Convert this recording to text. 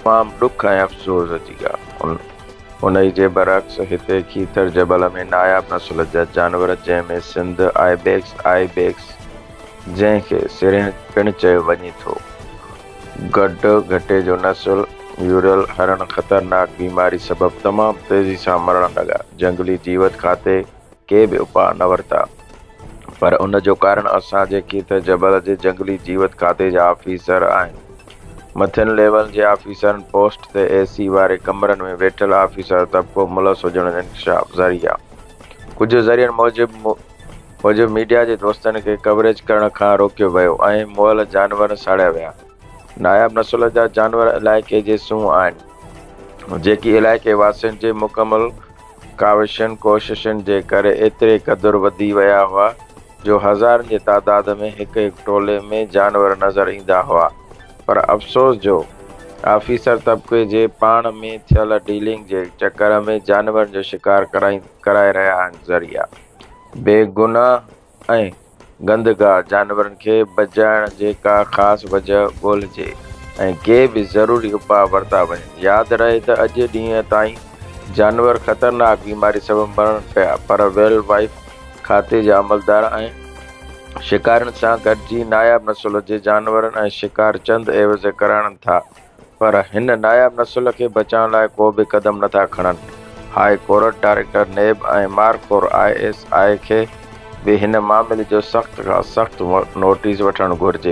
تمام به ڏک ۽ افسوس جي ڳالهه. انهي جي برعڪس هتي کيتر جبل ۾ ناياب نسل جا جانور جنهن ۾ سنڌ آئيبيڪس، Ibex، جنهن کي سرهنگ پڻ چيو وڃي ٿو، گڊ گهٽي جو نسل، ميورل هرڻ خطرناڪ بيماري سبب تمام تيزي سان مرڻ لڳا، جهنگلي جيوت کاتي. ڪي به اپاء نه ورتا، پر ان جو ڪارڻ اسان جيڪي ته جبل جي جنگلي جيوت کاتي جا آفيسر آهن، مٿين ليول جي آفيسرن پوسٽ تي اي سي واري ڪمرن ۾ ويٺل آفيسر طبقو ملوث هجڻ جو انڪشاف ذريعا ڪجهه ذريعن موجب موجب ميڊيا جي دوستن کي ڪوريج ڪرڻ کان روڪيو ويو ۽ مئل جانور ساڙيا ويا. ناياب نسل جا جانور علائقي جي سونهن آهن، جيڪي علائقي واسين جي مڪمل. ڪاوشن ڪوششن جي ڪري ايتري قدر وڌي ويا هئا جو هزارن جي تعداد ۾ هڪ هڪ ٽولي ۾ جانور نظر ايندا هئا پر افسوس جو آفيسر طبقي جي پاڻ ۾ ٿيل ڊيلنگ جي چڪر ۾ جانورن جو شڪار ڪرائي رهيا آهن ذريعا بيگناهه ۽ گندگار جانورن کي بجائڻ جي ڪا خاص وجهه ڳولهجي ۽ ڪي به ضروري اپاء ورتا وڃن. ياد رهي ته اڄ ڏينهن تائين جانور خطرناڪ بيماري سبب مرن پيا پر ويلڊ وائف کاتي جا عملدار ۽ شڪارين سان گڏجي ناياب نسل جي جانورن ۽ شڪار چند عيوض ڪرائڻ ٿا. پر هن ناياب نسل کي بچائڻ لاء ڪو به قدم نٿا کڻن. هاء ڪورٽ ڊائريڪٽر نيب ۽ مارخور آء ايس آء کي به هن معاملي جو سخت کان سخت نوٽيس وٺڻ گهرجي.